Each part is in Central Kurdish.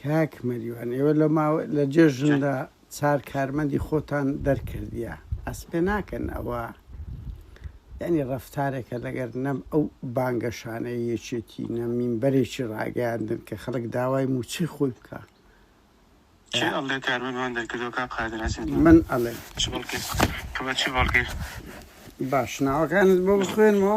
کاک مەریوان ئێوە لە ماوە لە جێژندا چار کارمەندی خۆتان دەرکردە ئەس پێ ناکەن ئەوە ینی ڕفتارێکە لەگەر نەم ئەو بانگەشانەیە یەکێتی نەمین بەرێکی ڕاگەاندن کە خەڵک داوای موچی خۆی بکە ئەڵێ کارمەندوان دەرکردەکە قادراسی من ئەڵێ باش ناوەکانت بۆ بخوێنەوە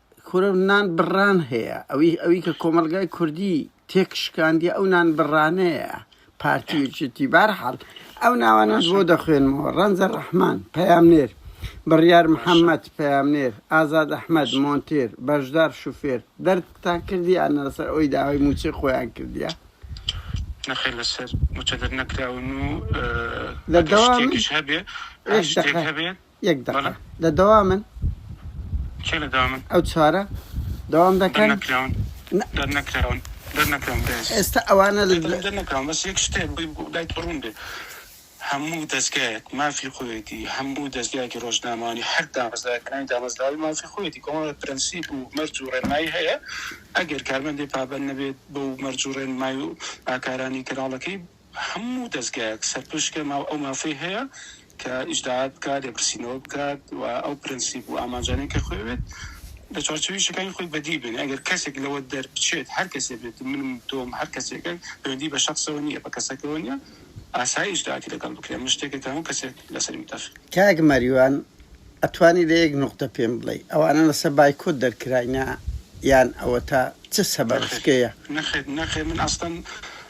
کورە نان بڕان هەیە ئەوی ئەوی کە کۆمەلگای کوردی تێک شکاندی ئەو نان بڕانەیە پارتی وچتی بارحال ئەو ناوانە بۆ دەخوێنمەوە ڕەنجە ڕەحمان پەیامنێر بڕیار محەممەد پەیامنێر ئازاد ئەحمد مۆنتێر بەشدار شوفێر دەردتان کردی یان لەسەر ئەوی داوای موچەی خۆیان کردیە نەخێر لەسەر موچە دەرنەکراون و لە دەوامیش هەبێ هەبێ یەک دەقە بەڵێ. لە دەوامن؟ کێ لە دەوامن؟ ئەو چوارە دەوام دەکەن؟ دەرنەکراون نا. دەرنەکراون دەرنەکراون برای ئەزیز. ئێستا ئەوانە لە دەرکراون دەرنەکراون بەس یەک شتێ بی بۆ لای تۆ ڕوون بێ هەموو دەزگایەک مافی خۆیەتی هەموو دەزگایەکی ڕۆژنامەوانی هەر دامەزراوەیەک ناوی دامەزراوەی مافی خۆیەتی کۆمەڵێ پرەنسیپ و مەرج و ڕێنمایی هەیە ئەگەر کارمەندێ پابەند نەبێت بەو مەرج و ڕێنمای و ئاکارانی کەناڵەکەی هەموو دەزگایەک سەرپشکە ماو ئەو مافەی هەیە کە ئیجداات بکات، لێپرسینەوە بکات و ئەو پرەنسیپ و ئامانجانەی کە خۆی ئەوێت لە چوارچێوەی یەکەکانی خۆی بەدی بێنێ. ئەگەر کەسێک لەوە دەربچێت، هەر کەسێ بێت، منم، تۆم، هەر کەسێکە، پەیوەندی بە شەخسەوە نییە، بە کەسەکەوە نییە، ئاسایە ئیجدااتی لەگەڵ بکرێ، ئەمە شتێکە کە هەموو کەسێک لەسەری متەفق. کاک مەریوان ئەتوانی لە یەک نوقتە پێم بڵێی ئەوانە لەسەر بایکۆت دەرکراینە یان ئەوەتا چ سەبەبەکەیە؟ نەخێر نەخێر نەخێر من ئەسڵەن.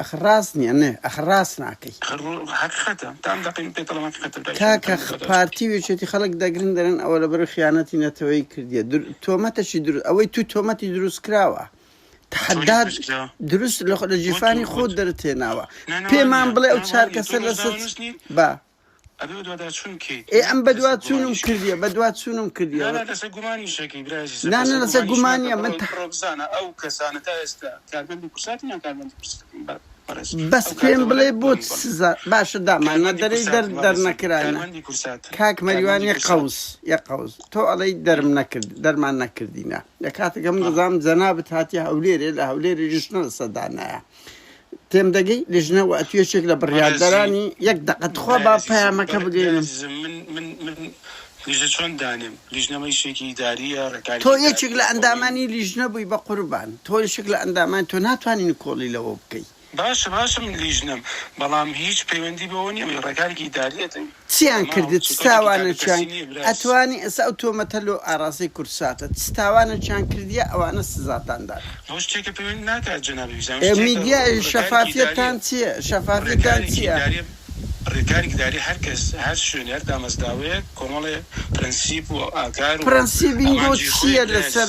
ئەخ ڕاست نیە نە ئەخ ڕاست ناکەی. ئەخر ڕۆ هەقیقەتە تام دەقەی من پێ تەڵەماخی خەتەر برای شەرم کاکە کەر خ مەکەدەر. پارتی و یەکێتی خەڵک دەگرن دەرێن ئەوە لەبەر خیانەتی نەتەوەیی کردیە در تۆمەتەکی دروست ئەوەی تو تۆمەتی دروست کراوە چۆنی تەحەدات دروست کرا دروست لە خۆ لە وەتو جیفانی خۆت وەتو دەرت هێناوە نا نا وا پێمان نیە بڵێ ئەو نا وا چار نیە تۆ کەسە لە ڕۆژنامە سەد نوس نیت با ئەبێ بەدواداچوون بکەیت. ئێ ئەم بەدوادچوونم کردیە بەدوادچوونم کردیە. نا نا لەسەر گومانیش ئەکەی برا ئەزیز. نا نا لەسەر گومانیە من تە. بڕۆ بزانە ئەو کەسانە تا ئێستا کارمەندی کورساتن یان کارمەندی پرسکردن بە بەڕێز. بەس پێم بڵێ بۆ چ سزا باشە داماننا دەرێی دەر دەرنەکراینە. کارمەندی کورساتن. کاک مەریوان یەک قەوس یەک قەوس تۆ ئەڵێی دەرم نەکرد دەرمان نەکردینە لە کاتێکا من دەزانم جەنابت هاتیە هەولێرێ لە هەولێرێ ژنە لەسەر دانایە. تێمدەگەی لیژنە و ئەتو یەکێک لە بڕیاردەرانی یەک دەقە تخوا با پەیامەکە بگەینم لیژە چۆن دانێم لیژنەمە یشێکی ئیداریە ڕێکاری تۆ یەکێک لە ئەندامانی لیژنە بووی بە قوربان تۆ یشێک لە ئەندامان تۆ ناتوانین کۆڵی لەوە بکەی باشە باشە من لیژنەم بەڵام هیچ پەیوەندی بەوە نیە ڕێکارێکی ئیداریە دەوی چیان کردت چ تاوانە چیان ئەتوانی ئێستا ئەو تۆمەتە لۆ ئاراستەی کوردساتە چ تاوانە چیان کردیە ئەوانە سزاتان دان ئێ میدیا ئێ شەفافیەتتان چیە شەفافیەتتان چیە. پرەنسیبی لۆ چیە لەسەر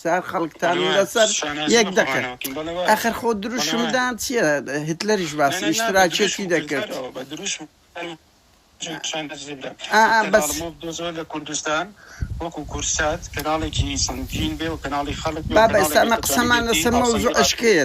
سەر خەڵکتان لەسەر یەک دەکەن ئەخر خۆ دروشمدان چیە هتلەریش باسی ئیشتراکیەتی دەکرد بابە ئێستا ئەمە قسەمان لەسەر مەوزوعەشکەیە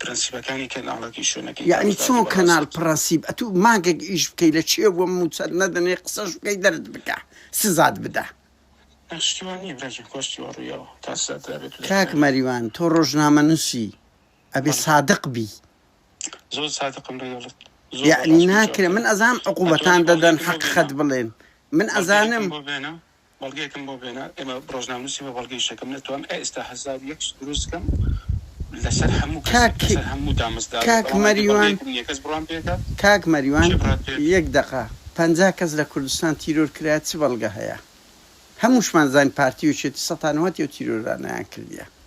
پرەنسیپەکانی کەناڵەکەی شوێنەکەی. یەعنی چۆن کەناڵ پڕەنسیپ ئەتو مانگەک ئیش بکەی لە چێ بوە موچەت نەدەنێ قسەش بکەی دەرت بکا سزات بدا. ئەخ شتی وا نیە براگیان کوا شتی وا ڕویاوە تا سزات درابێت و دەرکرابێت. کاک مەریوان تۆ ڕۆژنامە نوسی ئەبێ سادق بی. زۆر سادقم لەگەڵت. یەعنی ناکرێ من ئەزانم عقوبەتان دەدەن حەققت بڵێن من ئەزانم. بەڵگەیەکم بۆ بێنە ئێمە ڕۆژنامەنوسی بە بەڵگەی شەکەم نەتوان ئێستا هەزار یەک دروست کەم لەسەر هەموو کەسێک لەسەر هەموو دامەزرا کاک مەریوان کەس بڕوام پێکات کاک مەریوان یەک دەقە پەنجا کەس لە کوردستان تیرۆر کرایە چ بەڵگە هەیە هەمووشمان زانین پارتی و چێتی سەتانوهەتیەو تیرۆرانیان کردیە.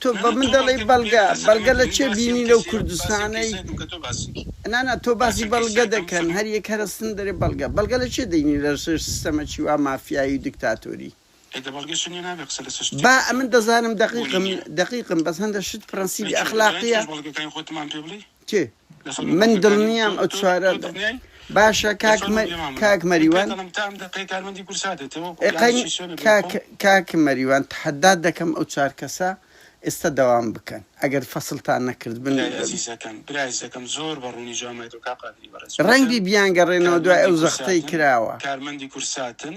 تۆ بە من دەڵێی بەڵگە بەڵگە لە چێ بینی لەو کوردستانەی نانا تۆ باسی بەڵگە دەکەن هەر یەک هەر ئەستن دەرێ بەڵگە بەڵگە لە چێ دەینی لە سێر سیستەمەکی وا مافیایی و دیکتاتۆری با ئەمن دەزانم دەقیقم دەقیقم بەس هەندە شت پڕەنسیبی ئەخلاقیە. کێ من دڵنیام ئەو چوارە باشە کاک کاک مەریوان کاک مەریوان تحدات دەکەم ئەو چار کەسە ئێستا دەوام بکەن ئەگەر فەسلتان نەکرد بن ڕەنگی بیانگەڕێنەوە دوای ئەو زەختەی کراوە کارمەندی کورساتن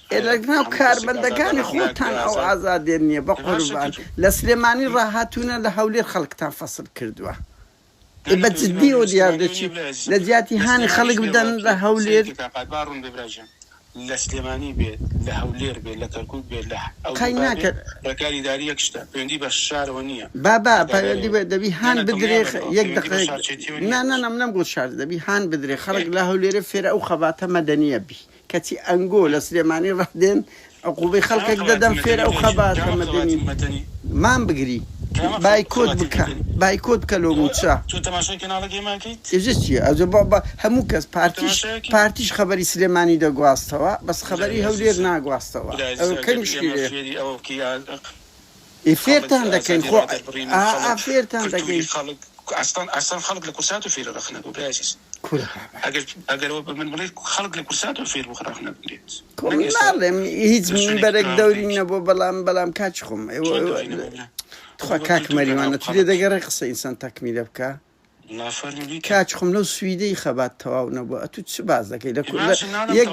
ئێ لە ناو کارمەندەکانی خۆتان ئەو ئازادیە نیە بەقوربان لە سلێمانی ڕاهاتونە لە هەولێر خەڵکتان فەسل کردوە ئێ بە جدی ئەو دیار دەچی لە جیاتی هانی خەڵک بدەن لە هەولێر قەی ناکەن بابا پەیوەندی بە دەبی هان بدرێ یەک دەقەیەک نا نا نا منەمگوت شار دەبی هان بدرێ خەڵک لە هەولێرێ فێرە ئەو خەباتە مەدەنیە بی. کەچی ئەنگۆ لە سلێمانی ڕەح دێن عقوبەی خەڵکەک دەدەن فێر ئەو خەباتە مەدەنی مان بگری بایکۆت بکە بایکۆت بکە لۆ موچە ئێجە چیە ئەوجە بۆ بە هەموو کەس پارتیش پارتیش خەبەری سلێمانی دەگواستەوە بەس خەبەری هەولێر ناگواستەوە ئەوە کەمیشی لێ. ئێ فێرتان دەکەین خۆ ئا فێرتان دەکەین. خۆ من ناڵێم هیچ مینبەرێک دەوری نەبوو بەڵام بەڵام کاکی خۆم تخوا کاک مەریوان ئەتوێ دەگەڕێ قسە ئینسان تەکمیلە بکا کاکی خۆم لەو سویدەی خەبات تەواو نەبوو ئەتوو چ باس دەکەی لە کورد یەک.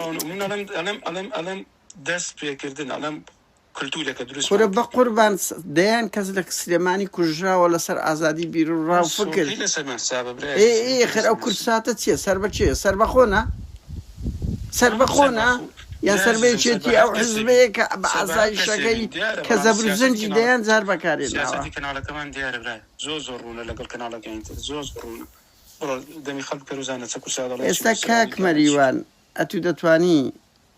کلتورەکە دروست کورە بە قوربان دەیان کەس لە سلێمانی کوژراوە لەسەر ئازادی بیر و ڕاو فکر خەر ئەو کورساتە چیە سەر بە چێ سەر بەخۆنا سەر بەخۆنا یان سەر بێچێتی ئەو حزبەیە کە بە ئازای شەکەی کە زەبر زەنجی دەیان جار بەکارێن کەناڵەکەمان دیارە برای زۆر زۆر ڕوونە لەگەڵ کەناڵەکەین تر زۆر ڕوونە دەمی خەڵ کەروزانە چە کورسا دەڵێ ئێستا کاک مەریوان ئەتو دەتوانی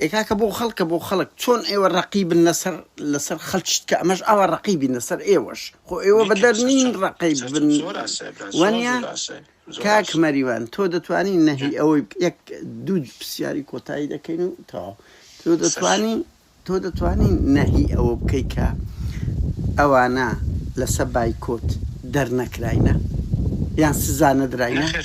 ئێ کاکە بۆ خەڵکە بۆ خەڵک چۆن ئێوە ڕەقی بن لەسەر لەسەر خەلچت کە ئەمەش ئاوا ڕەقی بین لەسەر ئێوەش خۆ ئێوە بەدەر نین ڕەقی بن وەنیە کاک مەریوان تۆ دەتوانی نەهی ئەوەی یەک دوو پرسیاری کۆتایی دەکەین و تا تۆ دەتوانی تۆ دەتوانی نەهی ئەوە بکەی کە ئەوانە لەسە بایکۆت دەرنەکراینە یان سزا نەدراینە